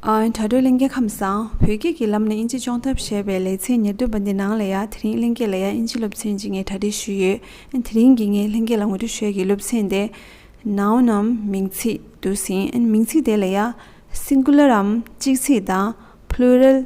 དྲ་གྲོགས་གླིང་རྒྱལ་ཁམས་སང་བོད་སྐད་ཀྱི་ལམ་ནས་དབྱིན་ཇི་སྤྱོང་ཐབས་བྱས་པའི་ལེ་ཚན་ཉེར་བདུན་པ་འདི་ནང་ལ་ཡང་དེ་རིང་གླིང་རྒྱལ་ལ་ཡང་དབྱིན་ཇི་སློབ་ཚན་གཅིག་ངས་གྲ་སྒྲིག་ཞུས་ཡོད་དེ་རིང་གི་ངས་གླིང་རྒྱལ་ལ་ངོ་སྤྲོད་ཞོལ་གྱི་སློབ་ཚན་དེ། Noun འམ་མིང་ཚིག་འདུག་ཟིན་མིང་ཚིག་དེ་ལ་ཡང Singular འམ་གཅིག་ཚིག་དང Plural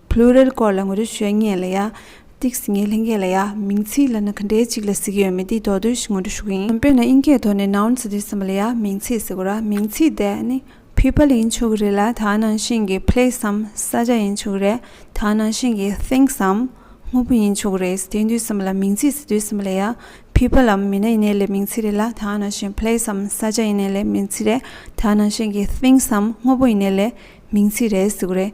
Plural སྐོར་ལ་ངོ་སྤྲོད་ཞུ་ཉན་ལ་ཡ། Tics ངའི་ལྷན་སྐད་ལ་ཡ། མིང་ཚིག་ལ་ནི་ག་འདྲའི་ཅིག་ལ་གཟིགས་ཡོད་མེད་འདི་དོགས་འདོད་ཞིག་ངོ་སྤྲོད་ཞུ་གི་ཡིན། དཔེར་ན་དབྱིན་སྐད་ཐོག་ནས Nouns འདི་ཟིན་པ་ལ་ཡ་མིང་ཚིག་ཟེར་གོ་ར་མིང་ཚིག་དེ་ནི People ཡིན་ཆོག་གི་རེད་ལ་དག་ནང་བཞིན་གྱི Place འམ་ས་ཆ་ཡིན་ཆོག་གི་རེད་དག་ནང་བཞིན་གྱི Things འམ་དངོས་པོ་ཡིན་ཆོག་གི་རེད་དེ་འདུས་ཟིན་པ་ལ་མིང་ཚིག་ཟེར་འདུས་ཟིན་པ་ལ་ཡ People འམ་མི་སྣ་ཡིན་ནའི་ལས་མིང་ཚིག་རེད་ལ་དག་ནང་བཞིན Place འམ་ས་ཆ་ཡིན་ནའི་ལས་མིང་ཚིག་རེད་དག་ནང་བཞིན་གྱི Things འམ་དངོས་པོ་ཡིན་ནའི་ལས་མིང་ཚིག་རེད་ཟེར་གི་རེད།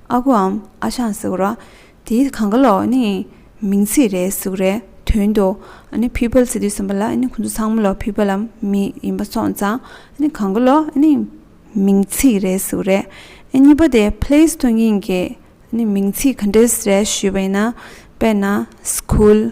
ཨ་ཁུའམ་ཨ་ཞང་ཟེར་རོ། དེའི་གངས་ཀ་ལོག་ནི་མིང་ཚིག་རེད་གཟུགས་རེད་དོན་དུ། ནི་ཕུད་པལ་ཟེར་དུས་གསུམ་པ་ལ་ནི་ཁོང་ཚོ་ཚང་མ་ལོག་ཕུད་པ་ལ་མི་ཡིན་པ་སོང་ཙང་ནི་གངས་ཀ་ལོག་ནི་མིང་ཚིག་རེད་གཟུགས་རེད། གཉིས་པ་དེ place དང་ཡིན་གྱི་ནི་མིང་ཚིག་ག་འདྲས་རེད་ཞུས་པ་ཡིན་ན་དཔེར་ན school།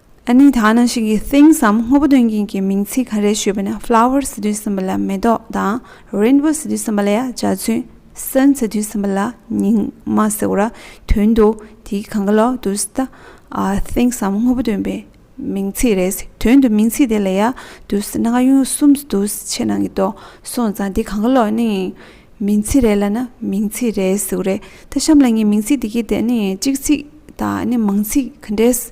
ཨ་ནི་ད་ནང་ཞིག་གི things འམ་དངོས་པོ་སྟོན་མཁན་གྱི་མིང་ཚིག་ག་རེ་ཞུས་པ་ན flowers ཟེར་དུས་གསུམ་པ་ལ་མེ་ཏོག་དང rainbow ཟེར་དུས་གསུམ་པ་ལ་ཡང་འཇའ་ཚོན sun ཟེར་དུས་གསུམ་པ་ལ་ཉིང་མ་ཟེར་བ་དོན་དུ་དེའི་གང་ག་ལོག་ཏུ་ཟད things འམ་དངོས་པོ་སྟོན་པའི་མིང་ཚིག་རེད་དོན་དུ་མིང་ཚིག་དེ་ལ་ཡ་དུས་ཟད་ན་ག་ཡུན་གསུམ་ཟད་དུ་ཕྱེད་ནང་གི་དོག་སོང་ཙང་དེ་གང་ག་ལོག་ནི་མིང་ཚིག་རེད་ལ་ན་མིང་ཚིག་རེད་ཟེར་བ་རེད་ད་གཤམ་ལ་ངས་མིང་ཚིག་དེ་གའི་དེ་ནི་གཅིག་ཚིག་དང་ཨ་ནི་མང་ཚིག་ག་འདྲས་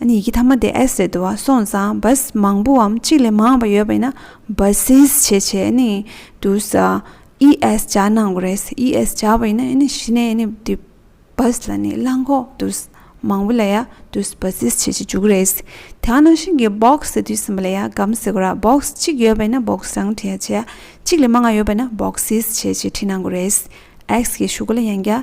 ཡི་གེ་ཐ་མ་དེ་ཨེས་རེད་འདུག་སོང་ཙང་བཱས་མང་པོའམ་གཅིག་ལས་མང་བ་ཡོད་པ་ཡིན་ན་བཱསིས་བྱེད་བྱས་ནས་འདུག་ས་ཨི་ཨེས་བྱ་གནང་དགོས་རེད་ཨི་ཨེས་བྱ་བ་ཡིན་ན་གཞི་ནས་ནི་དེ་བཱས་ལ་ནི་གླང་ཁོག་འདུག་མང་བོ་ལ་ཡ་འདུག་བཱསིས་བྱེད་ཀྱི་འཇུག་རེད་དེ་ནང་བཞིན་གྱི་སྦོག་ཟེར་དུས་ཟིན་པ་ལ་ཡ་སྒམ་ཟེར་དགོས་ར་སྦོག་གཅིག་ཡོད་པ་ཡིན་ན་སྦོག་སང་བྲིས་བྱས་གཅིག་ལས་མང་བ་ཡོད་པ་ཡིན་ན་བཱོག་སིས་བྱེད་ཅེས་བྲིས་གནང་དགོས་རེད་ཨེས་ཀྱི་ཞུ་སྒོ་ལ་ཡང་བརྒྱ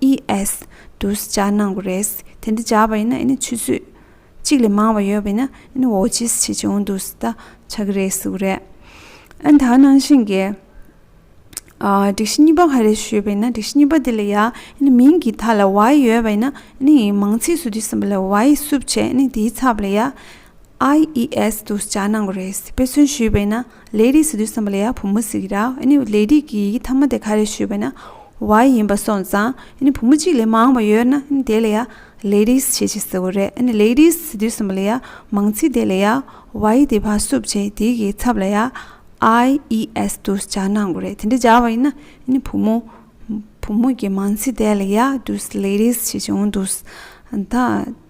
ES། དུ་བྱ་གནང་བ་རེད། དེ་འདི་བྱ་བ་ཡིན་ན་ཨེ་ནི་ཆུ་ཚོད་གཅིག་ལས་མང་བ་ཡོད་པས་ན་ཨེ་ནི་འོ་ཅིས་བྱེད་ཀྱི་འོང་འདུག་ད་ཆ་གི་རེད་ཟེར་བ་རེད། ཨན་ད་ནང་བཞིན་གྱི། སྒྲིག་གཞི་གཉིས་པ་ག་རེ་ཞུས་པས་ན་སྒྲིག་གཞི་གཉིས་པ་དེ་ལ་ཡ་ཨེ་ནི་མིང་གི་ཐ་ལ་ཝའི་ཡོད་པས་ན་ཨེ་ནི་མང་ཚིག་སུ་དུས་ཟིན་པ་ལ་ཝའི་སུབ་བྱས་ཨེ་ནི་དེའི་ཚབ་ལ་ཡ IES དུ་བྱ་གནང་བ་རེད་དཔེ་མཚོན་ཞུས་པས་ན། ལས་རིགས་སུ་དུས་གསུམ་པ་ལ་ཡང་བུ་མོ་ཟིག་ར་ཨེ་ནི་ལས་རིགས་ཀྱི་ཡི་གེ་ཐ་མ་དེ་ག་རེ་ཞུས་པ་ན་བ་ཡིན་པ་སོང་ཙང་ཨེ་ནི་བུ་མོ་གཅིག་ལས་མང་བ་ཡོད་ན་ཨེ་ནི་དེ་ལ་ཡང་ལས་རིགས་ཞེས་བྱེད་ཟེར་བ་རེད་ཨེ་ནི་ལས་རིགས་སུ་དུས་གསུམ་པ་ལ་ཡང་མང་ཚིག་དེ་ལ་ཡང་བ་ཡི་དེ་བ་སུབ་བྱས་དེ་གི་ཚབ་ལ་ཡང IES དུ་སྦྱར་ན་འགོ་རེད་དེ་འདྲ་སྦྱར་བ་ཡིན་ན་ཨེ་ནི་བུ་མོ་བུ་མོ་གི་མང་ཚིག་དེ་ལ་ཡང་དུས་ལས་རིགས་ཞེས་བྱེད་འོང་དུས་ད།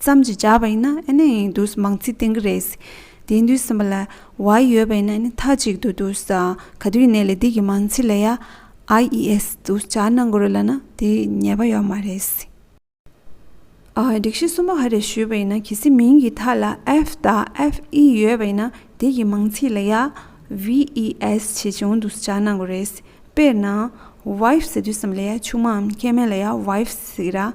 ཙམ་གྱིས་བྱ་བ་ཡིན་ན་ཨེ་ནས་ཡིན་དུས་སུ་མང་ཚིག་བསྟན་གི་རེད། དེ་དུས་སུ་མ་ལ་བ་ཡི་ཡོད་པ་ཡིན་ན་ཨེ་ནས་མཐའ་གཅིག་ཏུ་དུས་སུ་ག་དུས་ནས་ལས་དེ་གི་མང་ཚིག་ལ་ཡ་ཨ་ཡི་ཨེས་དུས་སུ་བྱ་གནང་དགོས་རེད་ལ་ན་དེ་ཉེས་པ་ཡོད་མ་རེད། སྒྲིག་གཞི་གསུམ་པོ་ཧ་རེ་ཞུས་པ་ཡིན་ན་གལ་སྲིད་མིང་གི་མཐའ་ལ་ཨེཕ་དང་ཨེཕ་ཨི་ཡོད་པ་ཡིན་ན་དེ་གི་མང་ཚིག་ལ་ཡ་བྷི་ཨི་ཨེས་བྱེད་བྱུང་དུས་སུ་བྱ་གནང་དགོས་རེད། དཔེར་ན། བྷའི་ཟེར་དུས་སུ་མ་ལ་ཡ་ཆུང་མའམ་མཁལ་མའི་ལ་ཡ་བྷའི་ཟེར།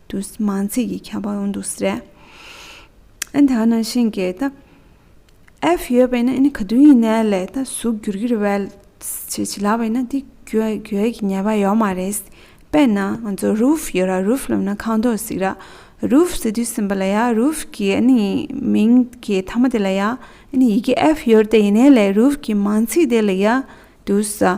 དུ་མང་ཚིག་གི་ཁྱབ་པ་ཡོང་འདུག་ཟེར། ཨན་ད་ནང་བཞིན་གྱི་ད་ཨེཕ་ཡོད་པས་ན་ཨན་ག་དུས་ཡིན་ནའི་ལས་ད་གཟུགས་བསྒྱུར་གྱི་རེད་བས་ཇི་ཇི་ལགས་བས་ན་དེ་གྱོད་གྱོད་ཀྱི་ཉེས་པ་ཡོད་མ་རེད། དཔེར་ན་ང་ཚོ་རུབ་ཡོད་ར་རུབ་ལབ་ན་ཁང་ཐོག་ཟིག་ར་རུབ་ཟེར་དུས་སེམས་པ་ལ་ཡ་རུབ་ཀྱི་ཨན་མིང་གི་མཐའ་མ་དེ་ལ་ཡ་ཨན་ཡི་གེ་ཨེཕ་ཡོད་དེ་ཡིན་ནའི་ལས་རུབ་ཀྱི་མང་ཚིག་དེ་ལ་ཡ་དུས་ཟ།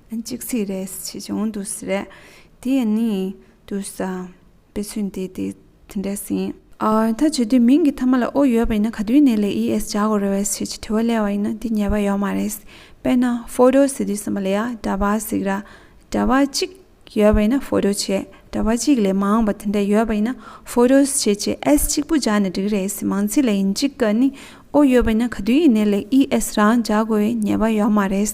གཅིག་ཚིག་རེས་ཆེ་ཆུང་དུ་ཟེར། དེ་ཡི་ནི་དུ་ས་པའི་ཚུལ་འདི་དེ་འདྲས་ཟིན། ཐ་ཇུས་འདི་མིང་གི་མཐའ་མ་ལ་ཨོ་ཡོད་པ་ཡིན་ན་ག་དུས་ནས་ལས་ཨི་ཨེས་བྱ་དགོས་རེ་བའི་ཆེད་ཀྱི་དྲི་བ་སླེ་བ་ཡིན་ན་འདི་ཉེས་པ་ཡོད་མ་རེད། དཔེར་ན photo ཟེར་དུས་སམ་པ་ལ་ཡ་འདྲ་བ་ཟིག་ར་འདྲ་བ་གཅིག་ཡོད་པ་ཡིན་ན photo ཆེ་འདྲ་བ་གཅིག་ལས་མང་བ་དེ་འདྲ་ཡོད་པ་ཡིན་ན photos ཆེ་ཆེ་ཨེས་གཅིག་པུ་སྦྱར་ནས་འགྲིག་རེད་མང་ཚིག་ལ་ཡིན་གཅིག་ག་ནི་ཨོ་ཡོད་པ་ཡིན་ན་ག་དུས་ཡིན་ནས་ལས་ཨི་ཨེས་རང་བྱ་དགོས་ཉེས་པ་ཡོད་མ་རེད།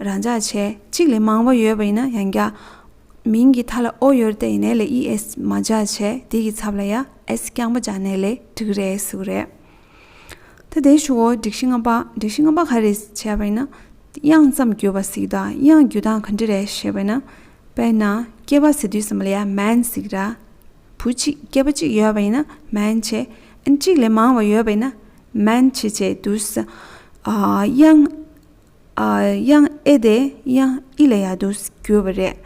རང་འཇགས་བྱས། གཅིག་ལས་མང་བ་ཡོད་པ་ཡིན་ན་ཡང་འགྱ། མིང་གི་མཐའ་ལ་ཨོ་ཡོད་རྟེ་ཡི་ནས་ལས་ཨི་ཨེས་མ་འཇགས་བྱས་དེ་གི་ཚབ་ལ་ཡ་ཨེས་རྐྱང་པ་འཇགས་ནས་ལས་དྲི་གི་རེད་སུ་རེད། ད་དེ་ཞུའོ་སྒྲིག་གཞི་ལྔ་པ་སྒྲིག་གཞི་ལྔ་པ་ག་རེད་བྱས་པ་ཡིན་ན། དབྱངས་ཙམ་བརྒྱུད་པ་ཟིག་དང་དབྱངས་བརྒྱུད་སྟངས་ག་འདྲི་རེད་ཞེས་པ་ཡིན་ན། དཔེར་ན་སྐྱེས་པ་ཟེར་དུས་སམ་ལ་ཡ་མན་ཟིག་ར། བུ་གཅིག་སྐྱེས་པ་གཅིག་ཡོད་པ་ཡིན་ན་མན་ཆེ། ཨན་གཅིག་ལས་མང་བ་ཡོད་པ་ཡིན་ན། མན་ཆེ་བྱས་དུས། དབྱངས། དབྱངས་ཨེ་དེ་དབྱངས་ཨི་ལ་ཡག་ཏུ་བསྒྱུར་བ་རེད།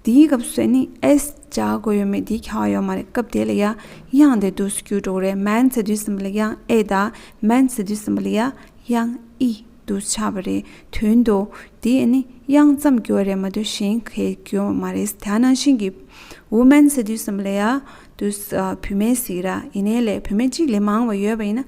དེའི་སྐབས་སུ་ནི་ཨེས་བྱ་དགོས་ཡོད་མེད་དེའི་ཁྱད་པར་ཡོད་མ་རེད་སྐབས་དེ་ལ་ཡང་དབྱངས་དེ་དུས་སུ་བསྒྱུར་འགྲོ་གི་རེད་མན་ཚེ་དུས་གསུམ་པ་ལ་དབྱངས་ཨེ་དང་མན་ཚེ་དུས་གསུམ་པ་ལ་ཡང་དབྱངས་ཨི་དུ་ཆགས་པ་རེད་དོན་དུ་དེ་ནི་དབྱངས་ཙམ་བསྒྱུར་བ་རེད་མ་གཏོགས་གཞན་གས་བསྒྱུར་བ་མ་རེད་དེ་ནང་བཞིན་གྱི་འུ་མན་ཚེ་དུས་གསུམ་པ་ལ་ཡང་དུས་བུད་མེད་ཟིག་ར་ཡིན་ནའི་ལས་བུད་མེད་གཅིག་ལས་མང་བ་ཡོད་པ་ཡིན་ན་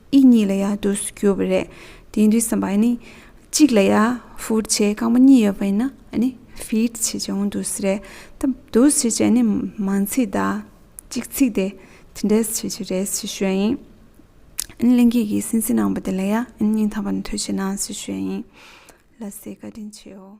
ཨི་གཉིས་ལ་ཡང་དུས་སུ་གྱུར་པ་རེད། དེ་འདྲའི་ཟམ་པ་ནི། གཅིག་ལ་ཡང་ཧྥུར་བྱེད་རྐང་པ་གཉིས་ཡོད་པ་ཡིན་ན་ནི་ཧྥིར་བྱེད་ཀྱང་དུས་སུ་རེད། ད་དུས་སུ་བྱེད་ཀྱི་ནི་མ་ཚིག་དང་གཅིག་ཚིག་དེ་དེ་འདྲས་བྱེད་ཀྱི་རེད་ཞེས་ཞུས་ཡིན། གླིང་སྐྱིད་ཀྱིས་སེམས་གསལ་གནང་བ་དེ་ལ་ཡང་སྙིང་ཐག་པ་ནས་ཐུགས་ཆེ་གནང་ཞེས་ཞུས་ཡིན། ལ་སེ་བཀའ་དྲིན་ཆེའོ།